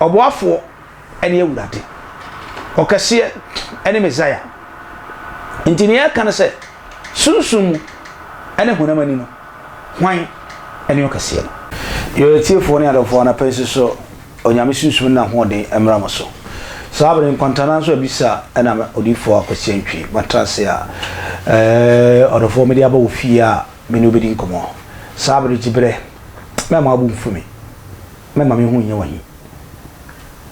Ɔboafoɔ ne Awurade. Ɔkɛseɛ ne Mesaia. Nti nea ɛreka ne sɛ, sunsum mu ne honam ani no, hwan ne ɔkɛseɛ no? Yɛn atiefoɔ ne adɔfoɔ, anapa yi nsosɔ Onyame sunsum ne n'ahoɔden mmra mo so. Saa bere yi, nkwantanan nso abisa nam Odiyifoɔ Akwasi Antwi matrase a ɔdɔfoɔ mede aba wo fie a me ne wo bɛdi nkɔmmɔ. Saa bere gye berɛ, mɛmma wo bo mfu me. Mɛma me ho nyɛ wo ahi.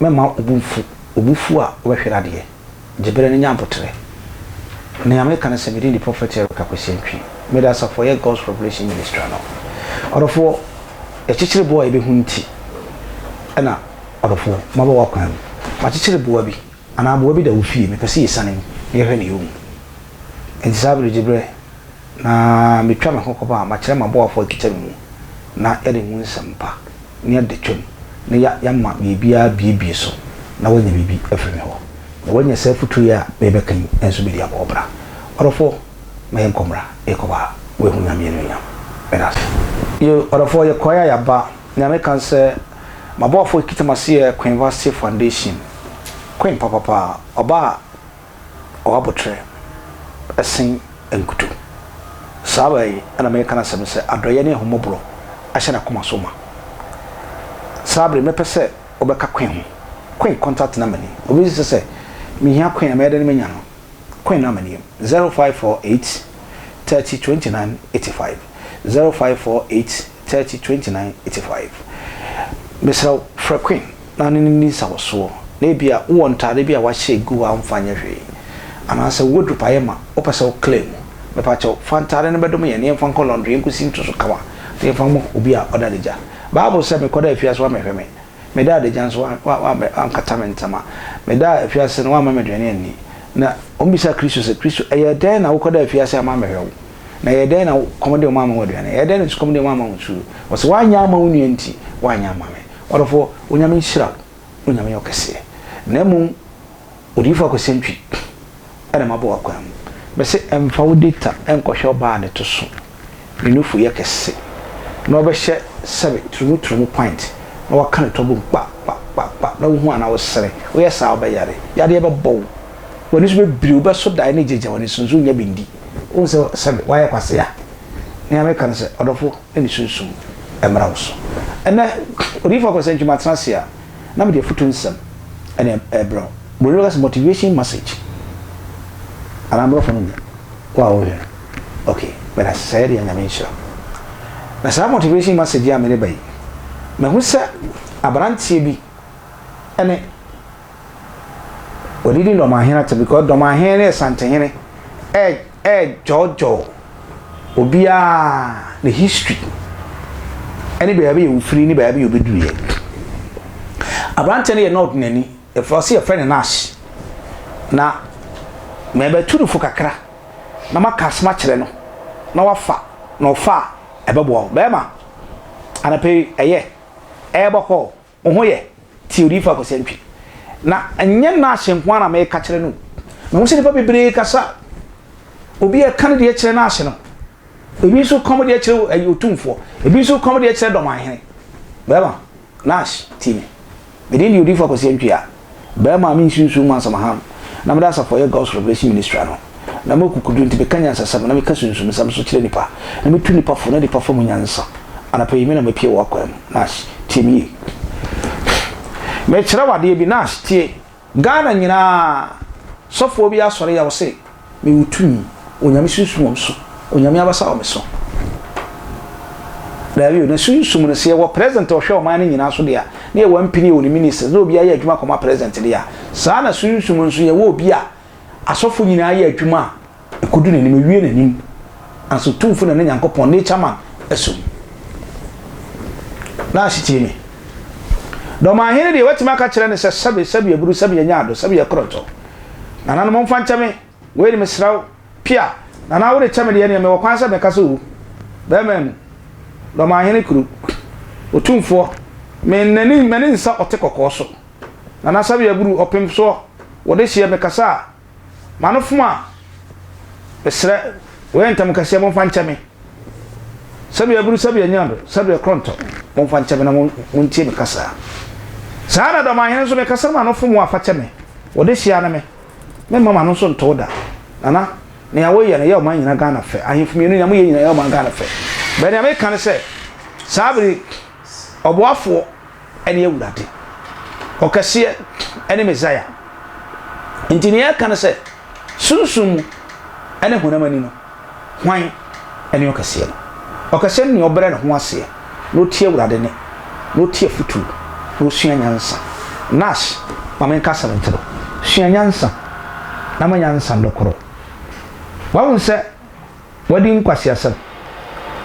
Mɛma wo bo mfu, obufuo a wobɛhwere adeɛ, gye berɛ no nya aboterɛ. Nea meka ne sɛ me din de Prɔfɛt Eric Akwasi Antwi. Mede asafo a ɛyɛ God's Revelation Ministry ano. Ɔdɔfoɔ, yɛkyekyere boɔ a yɛbɛhunu nti na ɔdɔfoɔ, maba w'akwan mu. Makyekyere boa bi anaa aboa bi da wo fie, mepɛ sɛ yɛsiane mu na yɛhwɛ nea ɛwɔ mu. Enti saa berɛ gye berɛ. Na metwa me ho kɔba a, makyerɛ m'aboafo a wɔkita me mu, na yɛde mo nsɛm pa ne adetwam na yɛama biribiara abuebue so, na woanya biribi afi me hɔ. Na woanya saa afotu yi a merebɛka yi nso bi de abɔ wo bra. Ɔdɔfo, ma yɛnkɔ mmra, yɛkɔba a, woahu Nyame anuonyam. Meda ase. Yiw, ɔdɔfo, yɛkɔe a yɛaba. Nea meka ne sɛ, m'aboafo a wɔkita m'ase yɛ Queen Vastey Foundation. Queen papa paa. Ɔbaa a. ɔwɔ aboterɛ sen nkuto. Saa baa yi na mereka n'asɛm sɛ adɔeɛ ne ahummɔborɔ ahyɛ n'akoma so ma. Saa bere mɛpɛ sɛ wobɛka Quinn ho. Quinn contact number ni, obi nso te sɛ mehia Quinn a mɛyɛ dɛn manya no? Quinn number ni, 0548 30 29 85, 0548. 30 29 85. Mesrɛ wo, frɛ Quinn na ne no nni nsawɔsoɔ, na ebia wowɔ ntaade bi a woahyɛ agu hɔ a womfa nyɛ hwee, anaasɛ wowɔ dupe a ayɛ ma, wopɛ sɛ wo claim. Mepa kyɛw, fa ntaade no bɛdome yɛn na yɛmfa nkɔ laundry, yɛnkɔsi nto so kama, na yɛmfa mma obi a ɔda adagya. Bible sɛ, Mekɔdaa afiase, woammɛhwɛ me, medaa adagya nso, woankata me ntama, medaa afiase no, woamma m'aduane anni. Na wɔbisaa Kristo sɛ, Kristo, ɛyɛɛ dɛn na wokɔdaa afiase amma ammɛhwɛ wo? Na ɛyɛɛ dɛn na kɔm de wɔn amma wɔn aduane? Ɛyɛɛ dɛn na sukɔm de wɔn amma wɔn nsuo? Wɔse, Woanyɛ amma wo nua nti, woanyɛ amma me. Ɔdɔfoɔ, Onyame nhyira wo, Onyame yɛ ɔkɛseɛ. Na mmom, Odiyifoɔ Akwasiantwi na mabɔ w'akwan mu. Mese mfa wo data nkɔhwɛ ɔbaa a ne to so, ne nufu yɛ kɛse, na ɔbɛhyɛ sɛbe turumu turumu pint, na waka ne to abom kpa kpa kpa kpa, na wohu anaa wosere. Woyɛ saa a, wobɛyare. Yadeɛ bɛbɔ wo. W'ani so bɛbire, wobɛso dae na agyagya w'ani so nso wonnya bi ndi. Wohu sɛ sɛbe woayɛ kwasea? Nea meka ne sɛ, ɔdɔfo, na ne sunsum mmra wo so. Ɛnnɛ, Odiyifo Akwasi Antwi, matena ase a, na mede afotu nsɛm na ɛrebrɛ wo. Buroni no bɛka sɛ motivation message, anaa Aborɔfo no nim wo a wohwɛ no. Ok, meda ase. Sɛ ɛyɛ dea, Nyame nhyira wo. Na saa motivation message yi a mede ba yi, mahu sɛ aberanteɛ bi ne. Wɔde di dɔmahene ate because dɔmahene ne asantehene ɛɛdwɔɔdwɔɔ obiara ne history ɛne baabi a ɔfiri ne baabi a ɔbɛduruiɛ. Aberanteɛ no yɛ na ɔdenani, wɔse yɛfrɛ no Nash na mɛbɛtu no fo kakra na maka asɛm akyerɛ no na wafa na ɔfa a ɛbɛboa wo. Bɛɛma anɔpa yi ɛyɛ ɛɛbɔ kɔɔ. Wo ho yɛ te Odiyifo Akwasi Antwi. Na ɛnyɛ Nash nko ara na meka kyerɛ no o. Mehu sɛ nnipa bebree kasa a, obi a ɛka ne deɛ kyerɛ Nash no, ebi nso reka wɔn deɛ kyerɛ Otumfoɔ, ebi nso reka wɔn deɛ kyerɛ Dɔmanhene. Bɛrima, Nash, tie me. Me din de Odiyifo Akwasi Antwi a Bɛɛma a mensunsum mu asɛm hann na mede asafo a ɛyɛ God's Revelation Ministry ano, na ma akukuduru nti meka nyansasɛm na meka sunsumsɛm nso kyerɛ nnipa, na metu nnipa fo na nnipa fa mu nyansa. Anapa yi me na mapue wɔ w'akwan mu, Nash, tie me yie. Mekyerɛ wo adeɛ bi, Nash, tie. Ghana nyinaa, sɔfoɔ bi asɔre yɛ wo se. Mewɔ tumi. Onyame sunsum wɔ me so. Onyame abasa wɔ me so. Daabi o, na sunsum no, sɛ yɛwɔ President a ɔhwɛ ɔman no nyinaa so deɛ a, na yɛwɔ MP ne yɛwɔ ne Ministers, na obiara yɛ adwuma kɔma President deɛ a, saa na sunsum nso yɛwɔ obi a asɔfo nyinaa yɛ adwuma a, ɛkɔdu n'anim, ɛwie n'anim. Ansa Otumfo na ne Nyankopɔn, Nature man, asom. Nurse tie me. Dɔmahene deɛ, woatumi aka kyerɛ no sɛ, Sɛbe, sɛbe aburu, sɛbe anya adɔ, sɛbe yɛ korɔntɔ. Nana no momfa nkyɛ me wei no mesrɛ wo. Pia, Nana wode kyɛ me deɛ neɛ mewɔ kwan sɛ mɛka sɛ oo. Bɛɛma mu, Dɔmanhene kuro, Otumfoɔ, me nnani m'ani nsa ɔte kɔkɔɔ so. Nana Sɛbeɛ buru ɔpem soɔ wɔ dehyeɛ mekasa a m'ano fom a mesrɛ wei ntɛm kɛseɛ momfa nkyɛ me. Sɛbe aburu, sɛbe anyaado, sɛbe akorɔntɔ, momfa nkyɛ me na montie me kasa. Saa ara na dɔm ahene nso, me kasa no ma no fom wɔn afa kyɛ me, wɔde hyia ne me. Memma m'ano nso ntow da. Nana, nea woyɛ no yɛ ɔman nyina Ghana fɛ. Ahemfo mmienu, nea moyɛ nyina yɛ ɔman Ghana fɛ. But nea meka ne sɛ, saa bere yi, Ɔboafoɔ ne Awurade, Ɔkɛseɛ ne Mesaia. Nti nea ɛka ne sɛ, sunsum mu ne honam ani no, hwan ne ɔkɛseɛ no? Ɔkɛseɛ ne nea ɔbrɛ ne ho aseɛ na ɔtie Awurade nne, na ɔtie afotuo, na ɔsua nyansa. Nash, ma menka asɛm nkyerɛ wo, sua nyansa na ma nyansa dɔ korɔ. Wahu sɛ. Wadi nkwaseasɛm.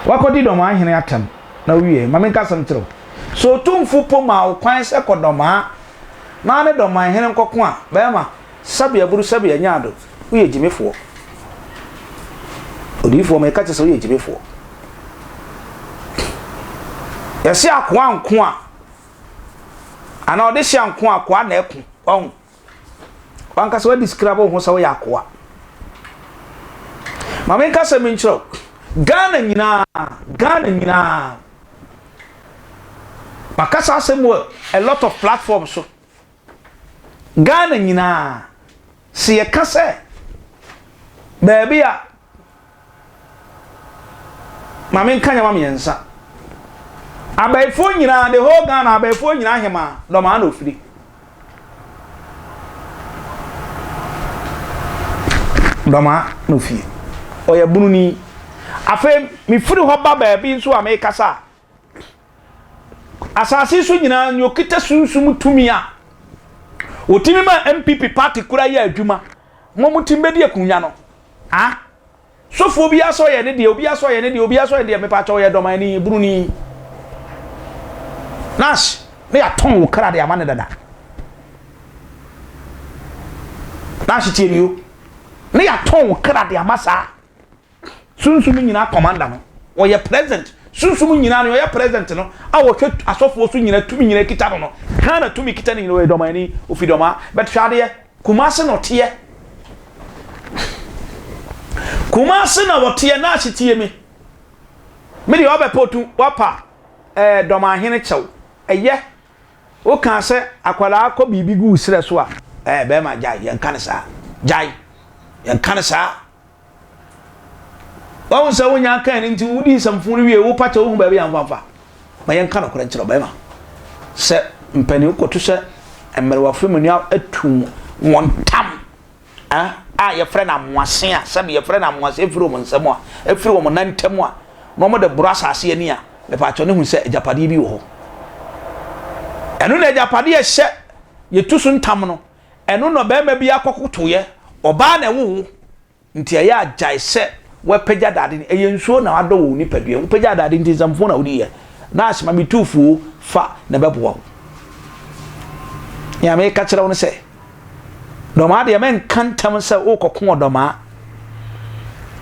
Wakɔdi Dɔmaa hene atɛm, na owiei. Ma menka asɛm nkyerɛ wo. Sɛ Otumfo mpo maa wo kwan sɛ kɔ Dɔmaa na ne Dɔman hene nkɔko a, barima, Sabi Aburu Sabi Anyaado, woyɛ gyimifoɔ. Odiyifoɔ, meka kyerɛ sɛ woyɛ gyimifoɔ. Yɛse akoa nko a, anaa ɔdehye a nko a, akoa na ɛko. Wahu? W'ankasa w'adi scrabble wo ho sɛ woyɛ akoa. Ma me nka sɛ me nkyerɛw. Ghana nyinaa, Ghana nyinaa. Ma kasa asɛm wɔ a lot of platforms so. Ghana nyinaa. Se yɛ ka sɛ baabi a Maame nka nneɛma mmiɛnsa. Abayifoɔ nyinaa, the whole Ghana, abayifoɔ nyinaa hemaa, dɔmaa na ofiri. Dɔmaa na ofie. Ɔyɛ bununi. Afei, mefiri hɔ ba baabi nso a mekasa a, asase so nyinaa nea okita sunsum tumi a otumi ma npp party kura yɛ adwuma ma wɔn tim bɛdi akonnwa no a sofoɔ bi asɔ yɛ ne deɛ obi asɔ yɛ ne deɛ obi asɔ yɛ deɛ mepa kyɛw yɛ dɔmani buruni nash ne yɛatɔn wo kra de ama ne dada nash tiɛ ne yo ne yɛatɔn wo kra de ama saa Sunsum nyinaa kɔmanda no, ɔyɛ president. Sunsum nyinaa no, ɔyɛ president no, a wɔhwɛ asɔfoɔ so nyinaa, tumi nyinaa kita no no. Ghana tumi kita no nyinaa, ɔyɛ dɔmani, ofi dɔmaa. But hwɛ adeɛ, Kumasi na ɔteɛ. Kumasi na ɔteɛ, Nash tie me. Me deɛ wabɛ potu, wapa ɛɛ eh, dɔmahene kyɛw. Ɛyɛ, woka sɛ akwadaa kɔ biribi gu serɛ so a, ɛɛ eh, bɛrima gyae, yɛnka no saa. Gyae, yɛnka no saa. Wahu sɛ wonya akan no nti wodi nsɛmfo no wie wopa kyɛ wohu baabi a mfamfa. Ma yɛnka nokorɛ nkyerɛ ɔbarima sɛ mpanin kɔto sɛ mmerewa firi mu nua atu wɔn tam a yɛfrɛ no amoase a sɛbi yɛfrɛ no amoase efiri wɔn nsam a efiri wɔn nan ntam a na wɔn de boro asase ani a mepatwɛ ne hu sɛ agyapadeɛ bi wɔ hɔ ɛno na agyapadeɛ ɛhyɛ yɛtu so ntam no Ɛno na ɔbarima bi akɔkotoeɛ, ɔbaa na ɛwo wo nti ɛyɛ a gyae sɛ wapagya dade no, ɛyɛ nsuo na wadɔ wɔ wo nipadua mu, wopagyaa dade nti nsɛmfoo na wodiiɛ, nurse ma me tuufuo fa na ɛbɛboa wo. Nea meka kyerɛ wo no sɛ, dɔmaa deɛ mɛnka ntam sɛ wokɔko ɔdɔmaa,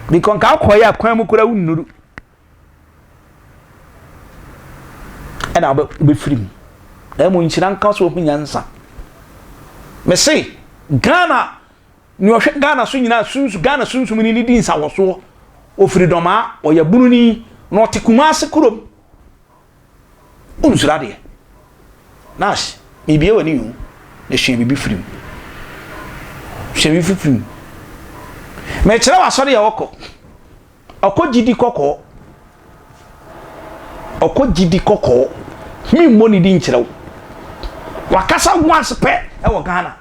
bikɔ nka wokɔeɛ a kwan mu koraa wonnuru, ɛna wobɛfiri mu na mmom nhyira nka so ɔhu nyansa mese ghana ne ɔhwɛ ghana so nyinaa sunsu ghana sunsum ni ne di nsawɔsoɔ ɔfiri dɔmaa ɔyɛ bununi na ɔte kuma ase kurom wonsura deɛ nas mebie wɔ ne yu na hyɛ biribi firi mu hyɛ biribi firi mu mekyerɛ wɔ asɔre yɛ wɔkɔ Ɔkɔ gyidi kɔkɔɔ. Ɔkɔ gyidi kɔkɔɔ. Mi mmɔ ne di nkyerɛ wo. Wakasa once pɛ ɛwɔ Ghana.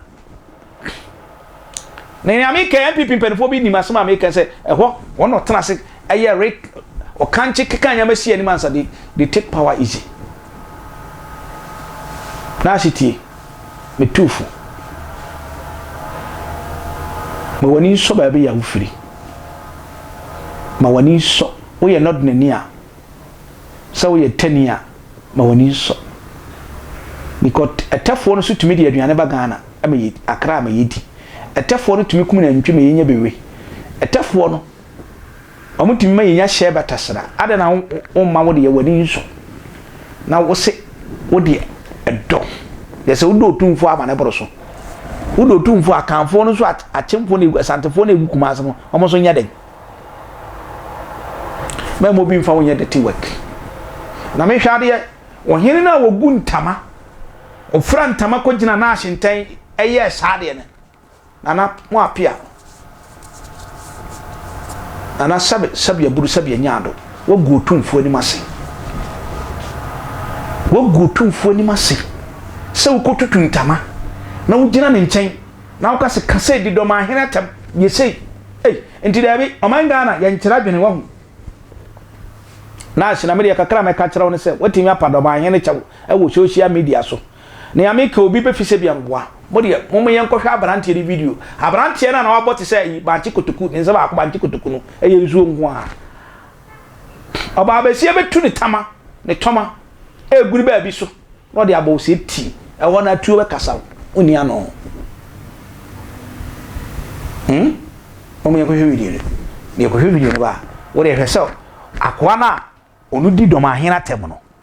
Na nea mi kɛ NPP mpanyinfoɔ bi nim asɛm a mi kɛ sɛ ɛhɔ wɔn na ɔtena ase ɛyɛ re ɔkankye keka nneɛma si anim ansa they they take power easy. Naase tie me tuufo. Ma w'ani nsɔ baabi a wofiri. ma w'ani nsɔ. Woyɛ nnɔdenani a, sɛ woyɛ tani a, ma w'ani nsɔ. Because ɛtɛfoɔ no so tumi de aduane ba Ghana ma yɛ, Accra ma yɛdi. Ɛtɛfoɔ no tumi kum nantwi ma yɛnya bewe. Ɛtɛfoɔ no, wɔn tumi ma yɛnya hyɛɛ batasra. Adɛn na womma wo deɛ w'ani nsɔ? Na wose wo deɛ ɛdɔ. Deɛ sɛ wodɔ Otumfoɔ a ma no boro so. Wo de otumfoɔ akanfoɔ no nso akyemfoɔ na egu asantefoɔ na egu kumase no wɔn nso nyɛ dɛn? Mɛma obi nfa wo nyɛ dirty work. Na mehwɛ adeɛ ɔhene no a wɔgu ntama ɔfira ntama kɔgyina n'ahyentɛn ɛyɛɛ saa deɛ no na na mo apea no Nana sɛbe sɛbe aburu sɛbe anya ado. Woagu Otumfoɔ anim ase. Woagu Otumfoɔ anim ase sɛ wokɔtutu ntama na wogyina ne nkyɛn na woka se ka sei de dɔ maa hene atɛm yɛ sei. Ei, nti daabi, ɔman Ghana yɛnkyerɛ adwene wahu. Nash, na me deɛ kakra a mɛka akyerɛ wo ne sɛ woatumi apa dɔ maa hene kyɛw wɔ social media so. Nea meka obi bɛfi sɛbia meboa mo deɛ mom yɛn kɔhwɛ abranteɛ no video abranteɛ no a na wabɔ te sɛ ayi bankye kotoku ne nsa baako bankye kotoku no ɛyɛ nsuo nko a ɔbaa bɛsie bɛtu ne tama ne tɔma ɛguri baabi so na ɔde abɔ ɔsɛ ti ɛhɔ no atuo bɛkasa ɔni ano hmm? mom yɛn kɔhwɛ video no deɛ kɔhwɛ video no ba a wode ɛhwɛ sɛ akoa no a ɔno di dɔm ahena tɛm no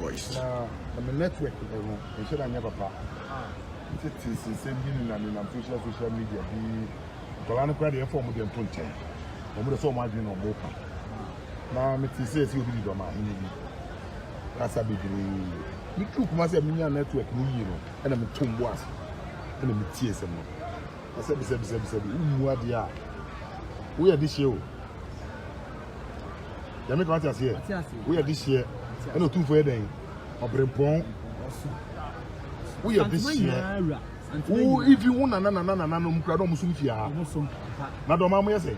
Royce. Na na me network eh, no nhyɛ da nyɛ papa tete sensɛm bi ne na nenam social social media bi nkwadaa no koraa deɛ ɛmfa wɔn deɛ nto nkyɛn wɔn deɛ sɛ wɔn adwene na wɔn repa na mete sɛ ɛsɛ obi de dɔm ahene bi kasa bebree metu kuma sɛ menya network no yie no ɛna metom bo ase ɛna metie sɛm no ɛsɛ bisabisabisa bi wommu adeɛ a woyɛ de hyɛ o Nyame kama te aseɛ. Woyɛ de hyeɛ. Ɛna otumfo yɛ dɛn? Ɔbrempɔn. Woyɛ de hyeɛ. Wo ifi wo nana nana nana no mukura dɔm sum fia. Na dɔm amu yɛ sɛ.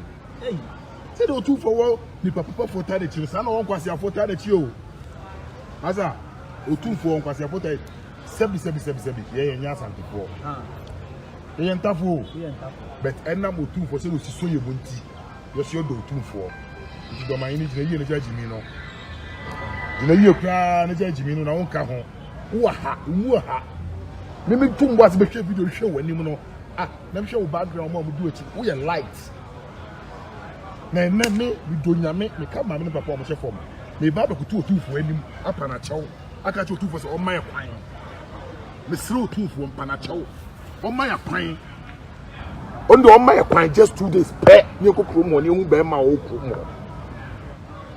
Sɛ de otumfo wɔ nipa papa fo ta de kyerɛ saa na wɔn kwasi afo ta de kyerɛ o. Asa otumfo wɔn kwasi afo ta sɛbi sɛbi sɛbi sɛbi yɛ yɛ nyɛ asantefoɔ. Yɛ yɛ ntafo o. But ɛnam otumfo sɛ osi so yɛ mu nti. Yesu yɛ dɔw tumfoɔ. Nti dɔmanyi no gyina yie ne gya gyimi no. Gyina yie koraa ne gya gyimi no na wonka ho. Wowɔ ha, wowɔ ha. Ne me tum bo ase bɛhwɛ video hwɛ w'anim no. Ah, na mehwɛ wo background mu a wɔdi w'akyi. Woyɛ light. Na ɛnɛ me medɔ nyame meka maame ne papa wɔn hyɛ fam. Meba abɛkoto otumfoɔ anim apa n'akyɛw aka kyerɛ otumfoɔ sɛ ɔmma yɛ kwan. Mesrɛ otumfoɔ mpa n'akyɛw. Ɔmma yɛ kwan. ɔno deɛ ɔma yɛ kwan just two days pɛ ne ɛkɔ kurom hɔ ne ɛhu bɛrima a ɔwɔ kurom hɔ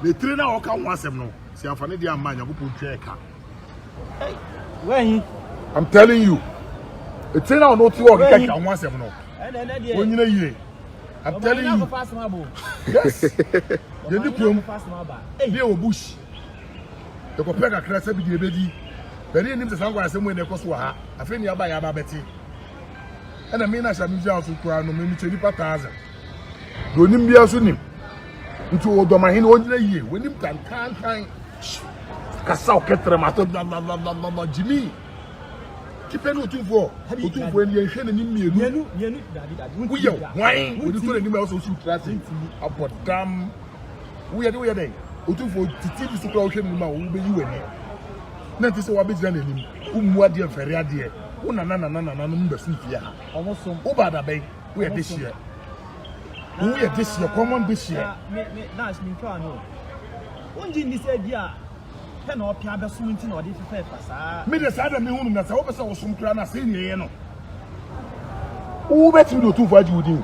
na ɛtire no a ɔka ho asɛm no sɛ afa ne deɛ amma nyankopɔn twa ɛka I'm telling you ɛtire no a ɔno ɔte hɔ ɔkeka keka ho asɛm no ɔnyina yie I'm telling you yes yɛdi kurom ne ɛwɔ bush ɛkɔpɛ kakra sɛ bi deɛ ɛbɛdi bɛne ɛnim sɛ saa nkwa asɛm wei na ɛkɔ so wɔ ha afei ne aba yɛ aba bɛte ɛna me na sɛ me gyina so koraa no memikyɛ nipa thousand deɛ onim biara so nim nti ɔdɔmahene ɔnyina yie wɔnim kankankan kasa ɔkɛtrɛ ma atɔ dwalalala gyimi tipɛ ne ɔtumfoɔ ɔtumfoɔ ɛni yɛnhwɛ n'anim mmienu woyɛ hwan wɔde kɔ n'anim a ɔsɛ ɔsi wotira ase abɔ dam woyɛ de woyɛ dɛn ɔtumfoɔ titi bi so koraa wohwɛ n'anim a wɔbɛyi w'ani na nti sɛ wabɛgyina n'anim wommu adeɛ mfɛre adeɛ Wo nana nana nananom bɛsom fie ha. Wo ba da bɛn? Wo yɛ dehyeɛ. Wo yɛ dehyeɛ, common dehyeɛ. Me me dash me ntwa no. Wonji ndi sɛ bi a pɛ na ɔpɛ abɛsom nti na ɔde fefɛ fa saa. Me de saa da me hunu na sɛ wopɛ sɛ wosom kura na sɛ ne yɛ no. Wo bɛtumi de otumfo agye wo din.